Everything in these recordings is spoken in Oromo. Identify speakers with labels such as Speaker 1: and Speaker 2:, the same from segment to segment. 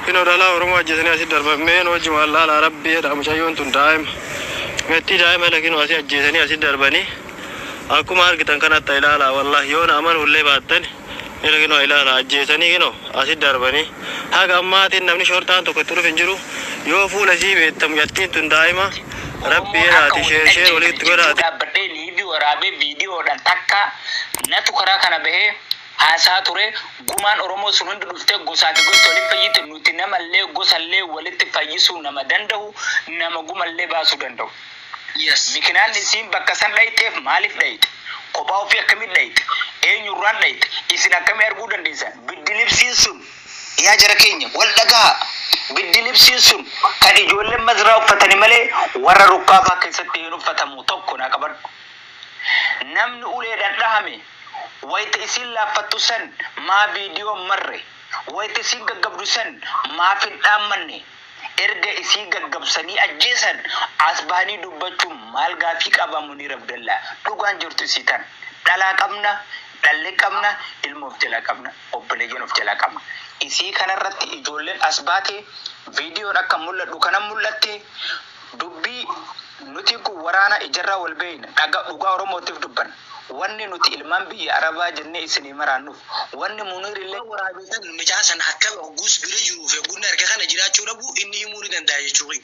Speaker 1: Kino dhalaa Oromoo ajjeesanii asii darban meen hojii wallaalaa rabbii jedha mucayyoon tun daa'ima. Mettii daa'ima la kino asii ajjeesanii asii darbanii akkuma argitan kanatta ilaalaa wallahi yoo na aman hullee baattan ila kino ilaalaa ajjeesanii kino asii darbanii haga ammaatiin namni shorxaan tokko itti dhufe hin jiru yoo fuula isii beektan mucattiin tun daa'ima rabbii jedhaati sheer sheer walitti godhaati. Iv waraabee
Speaker 2: viidiyoodhaan takka natu karaa kana bahee haasahaa ture gumaan oromoo sun hundi dhuftee gosaa fi gosti walitti fayyite nuti namallee gosallee walitti fayyisuu nama dandahu nama gumallee baasuu dandahu Yes. mikinaanni isiin bakka san dhayxeef maaliif dhayxe kophaa ofii akkamitti dhayxe eenyurraan dhayxe isin akkamii arguu dandeessan biddilibsiin sun Yaa jara keenya, wal dhagahaa! Biddilibsiin sun kan ijoolleen Mazraa uffatani malee warra rukkaafaa keessatti hin uffatamu, 1 naa qabadhu. Namni uleedhaan dhahame wayta isiin laaffattu san maa viidiyoo hin marre? Wayta isiin gaggabdu san maaf hin dhaammanne? Erga isii gaggabsanii ajjeesan as bahanii dubbachuun maal gaaffii qaba Muniir Abdallaa? Dhugaan jirtu isii tana. Dhalaa qabna, dhalle qabna, ilmoo of jalaa qabna. Obboleeyyan of jalaa qabna. Isii kana irratti ijoolleen as baate, viidiyoon akka mul'adhu kana mul'atte, dubbii nutiin kun waraana ijarraa wal beeyna, dhaga, dhugaa Oromootiif dubbanna. Wanni nuti ilmaan biyya Arabaa jennee isinii maraannuuf, wanni Muniir illee. Waan waraabeesan, mucaa san akkami hogguus bira jiruuf hogguun arge kana jiraachuu dhabuu inni himuu ni danda'a jechuu kiyya.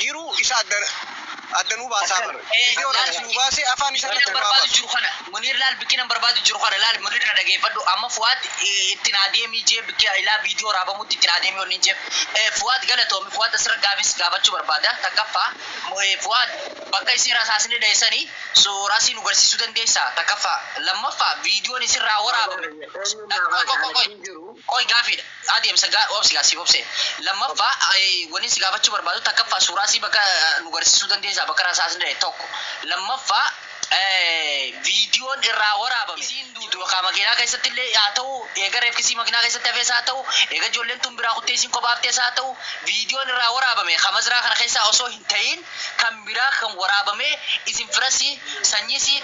Speaker 2: jiru isa adda adda nu baasaa Akkana. bar Eh, video irratti laal. nu baasee afaan isa Wanni irratti an nu haa barbaadu baasu jiru kana. Muniir laal bikkiin an barbaadu jiru kana laal Muniir na dhageeffadhu. Amma Fuwaad eh, itti naa deemii jee bikki ilaa viidiyoo raabamutti itti naa deemii wanni hin jeef. Eh, Fuwaad galatoomi. Fuwaad asirra gaafis gaafachuu barbaada. Takkaffaa mu- eh, Fuwaad bakka isin rasaasni dheessanii suurasii nu garsiisuu dandeessaa? Takkaffaa. Lammaffaa viidiyoon isin raa waraabame. Qoy qoy qoy qoy. Qoy gaafiidha. A deemsa ga obsi gaa siif obsee. Lammaffaa wanin si gaafachuu barbaadu takkaffaa suuraa isii bakka nu garsiisuu dandeessaa bakka rasaasni dhahe tokko lammaffaa viidiyoon irraa waraabame isiin duutu yookaa makiinaa keessatti illee haa ta'uu eega reefki isii makinaa keessatti hafees haa ta'uu eega ijoolleen tun biraa kuttee isiin kophaa haftees haa ta'uu viidiyoon irraa waraabame ka mazraa kana keessaa osoo hin ta'iin kan biraa kan waraabamee isin fira isii sanyii isii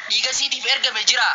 Speaker 2: dhiiga isiitiif ergame jiraa?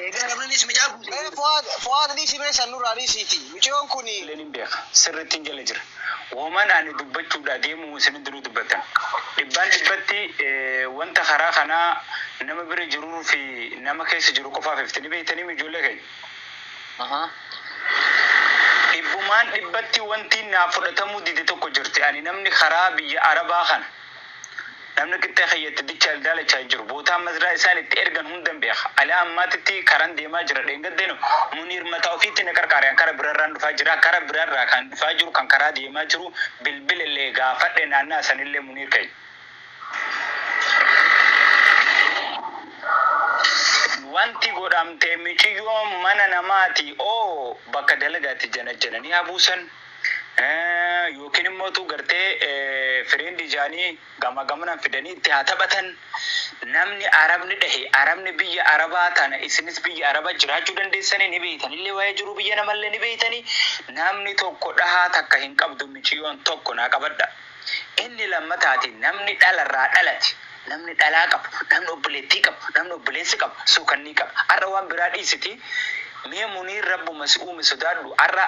Speaker 2: Eegaa Ramaniis mucaa guute. Mee Fuad Fuad dhiisi mee san nurraa dhiisiiti miciyoon kuni. Illee nin beeka sirrittin jala jira woman ani dubbachuudha deemu isin hundinuu dubbattan dhibbaan dhibbatti wanta karaa kanaa nama bira jirur fi nama keessa jiru qofaaf ifti ni beektaniim ijoollee keenya dhibbumaan dhibbatti wanti naaf fudhatamuu dide tokko jirti ani namni karaa biyya arabaa kana Namni qixxee kiyya itti dichaa daalachaa jiru bootaan masdaa isaan itti ergan hundan beeka. Ala ammaatitti karan deemaa jira dheengaddeno Muniir mataa ofiitti na qarqaare an kara birarraan dhufaa jira kara birarraa kan dhufaa jiru kan karaa deemaa jiru bilbilellee gaafadhe naanna'a sanillee Muniir keenya wanti godhamte miciyyoon mana namaati oo bakka dalagaatti janajjananii haa buusan. Yookiin immoo utuu gartee friend isaanii gamaa gamanan fidanii itti haa taphatan. Namni Arabni dhahe Arabni biyya Arabaa tana isinis biyya Arabaa jiraachuu dandeessanii ni beeytanillee waa'ee jiruu biyya namallee ni beeytanii namni tokko dhahaa takka hin qabdu miciyoon tokko naa qabadha. Inni lammataatiin namni dhala irraa dhalate, namni dhalaa qabu, namni obboleettii qabu, namni obboleessa qabu, suukannii qaba. Har'a waan biraa dhiisitii mee Muniir Rabbuma si uume sodaadhu har'a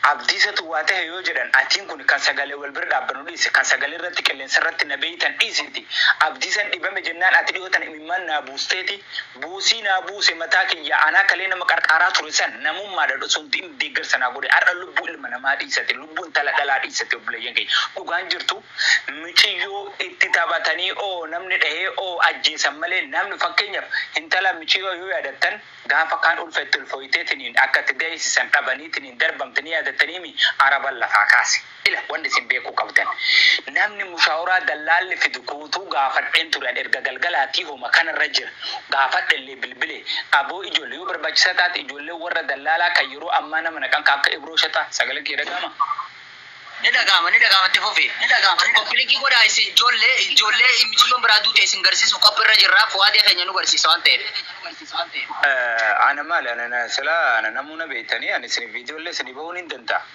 Speaker 2: Abdiisatu waa tahe yoo jedhan atiin kuni kan sagalee wal bira dhaabbanu dhiisi kan sagalee irratti qilleensa irratti na beeytan dhiisitii Abdiisan dhibame jennaan ati dhihoo tana imimmaan naa buusteeti Buusii naa buuse mataa kiyyaa anaa kalee nama qarqaaraa ture san namummaadha dhoso hundi inni deeggarsa naa godhe har'a lubbuu ilma namaa dhiisate lubbuu intala dhalaa dhiisate obboleeyyan kiyya dhugaan jirtu miciyyoo itti taphatanii oo namni dhahee oo ajjeesan malee namni fakkeenyaf intala miciyyoo yoo yaadattan gaafa kaan ulfa itti ulfooyteetiniin akka itti daheesisan dhabaniitiniin darbamte ni yaadattaniimi araban lafaa kaase Ila wanni isin beekuu qabdan. Namni mushaaworaa dallaalli fidu guutuu gaafadheen ture an erga galgalaatii homa kanarra jira. Gaafadhellee bilbilee. Aboo ijoolle yoo barbaachisaa taate ijoollee warra dallaalaa kan yeroo ammaa nama naqan kan akka Ibroo Shaxaa sagaleen kiyya dhaga'amaa? Ni
Speaker 3: dhaga'ama ni dhaga'ama itti fufi. Ni dhaga'ama koppi linkii godhaa isin ijoollee ijoollee miciyyoon biraa duute isin garsiisuuf qophiirra jirra Fuwaadee keenya nu garsiisa waan ta'eef.
Speaker 2: Ana maali ana silaa ana namuu na beektanii ani isinif viidiyoollee isinii ba'uu nin danda'a.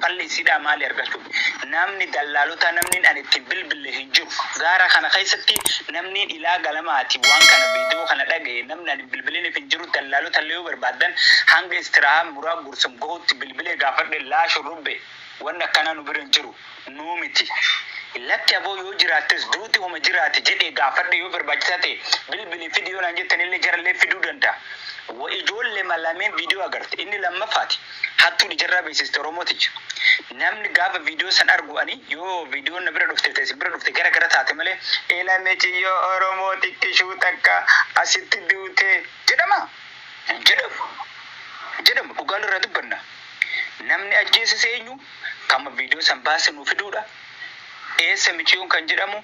Speaker 2: Falli isiidhaa maali argachu namni dallaalotaa namnin ani ittiin bilbille hin jiru gaara kana keessatti namnin ilaa galamaati waan kana video kana dhagahe namni ani hin bilbilinif hin jiru dallaalotalle yoo barbaaddan hanga istiraahaa muraa gursum gahutti bilbilee gaafadhe laa shurrubbe wanni akkanaa nu bira hin jiru nuu miti lakki aboo yoo jiraattes duuti homa jiraati jedhe gaafadhe yoo barbaachisaa ta'e bilbili fidi yoo naan jettanille jarallee fiduu danda'a wa ijoollema lameen video agarte inni lammaffaati Hattuun ijarraa beeksiste oromoo tiyya. Namni gaafa video san argu ani yoo videon na bira dhufte ta isin bira dhufte gara gara taate malee ila miciyyoo oromoo xiqqishuu takka asitti duute jedhamaa? Hin jedhamu. Hin jedhamu dhugaa walirraa dubbanna. Namni ajjeeses eenyu? Kama video san baase nuu fiduudha. Eessa miciyoon kan jedhamu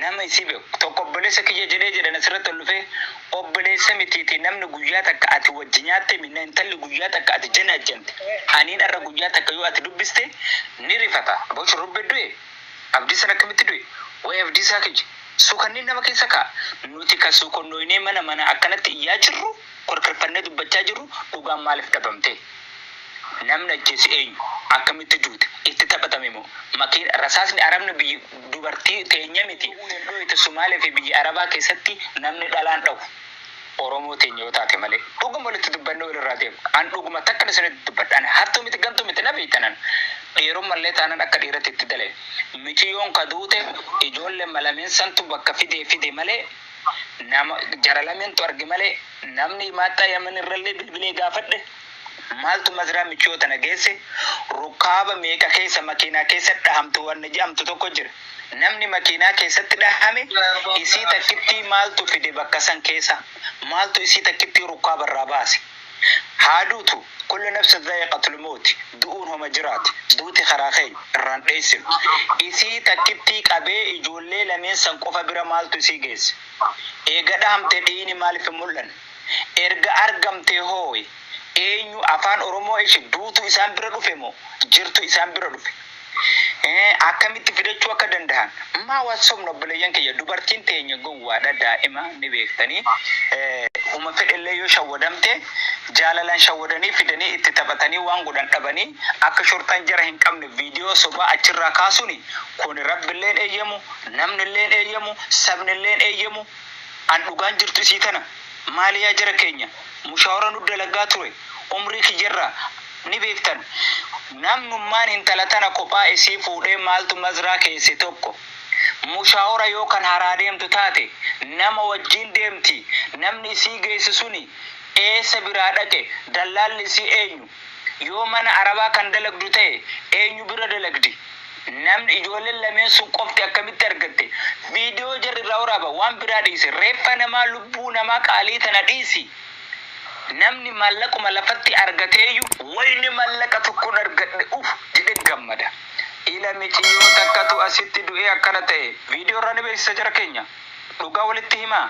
Speaker 2: nama isii beku tokko obboleessa kiyya jedhee jedhan asirratti ol dhufee obboleessa mitiiti namni guyyaa takka ati wajji nyaatte minna intalli guyyaa takka ati janajjante aniin arra guyyaa takka yoo ati dubbiste ni rifata boo shurrubbe du'e abdiisan akkamitti du'e way abdiisaa kiyya sukanni nama keessa kaa nuti ka sukonnoynee mana mana akkanatti iyyaa jirru korkirfannee dubbachaa jirru dhugaan maaliif dhabamtee? Namni ajjeese eenyu? Akkamitti duute? Itti taphatame moo? Makiina, rasaasni arabni biyya dubartii teenya miti OUN dhooyte Sumaalee fi biyya Arabaa keessatti namni dhalaan dhahu Oromoo teenya yoo taate malee. Dhuguma walitti dubbannee walirraa deemna. An dhuguma takkan isinitti dubbadha. Ani hattuu miti gantuu miti na beeytan an. Dhiirumma illee taanan akka dhiiratti itti dalaye. Miciyoon ka duute ijoollee Malameen santu bakka fidee fide malee. Nama jara lameentu arge malee namni himaattaa Yaman irrallee bilbilee gaafadhe maaltu masraa michoo tana geesse rukkaaba meeqa keessa makiinaa keessatti dhahamte wanni je'amtu tokko jira. Namni makiinaa keessatti dhahame isii takkittii maaltu fide bakka san keessa? Maaltu isii takkittii rukkaaba irraa baase? Haa duutu, kullu nafsin dha'iqatul mawti, du'uun homa jiraati, duuti karaa keenya, irraan dheessinu. Isii takkittii qabee ijoollee lameen san qofa bira maaltu isii geesse? Eega dhahamte dhiiyni maalif hin mul'anne? Erga argamtee hooy eenyu afaan Oromoo ishi duutu isaan bira dhufe moo jirtu isaan bira dhufe? Eh, akkamitti fidachuu akka dandahan maa wal sobna obboleeyyan kiyya dubartiin teenya gowwaadha daa'ima ni beektanii eh, huma fedhellee yoo shawwadamte jaalalaan shawwadanii fidanii itti taphatanii waan godhan dhabanii akka shortaan jara hin qabne viidiyoo sobaa achirraa kaasuni kun rabbilleen eeyyamu namnilleen eeyyamu sabnilleen eeyyamu an dhugaan jirtu isii tana maaliyaa jara keenya mushaawara nu dalagaa ture umrii kiyyarraa Ni beektan namnummaan hintala tana kophaa isii fuudhee maaltu mazraa keesse tokko mushaawora yoo kan haraa deemtu taate nama wajjiin deemti namni isii geesse suni eessa biraa dhaqe dallaalli isii eenyu yoo mana arabaa kan dalagdu ta'e eenyu bira dalagdi namni ijoolleen lameen sun qofti akkamitti argatte video jarri irraa waraaba waan biraa dhiisi reeffa namaa lubbuu namaa qaalii tana dhiisi Namni maallaquma lafatti argateeyyu wayne mallaqa tokkon argadhe uf jedhe gammada. Ila miciyyoo takkatu asitti du'ee akkana ta'e video irraa ni beeksisa jara keenya. Dhugaa walitti himaa.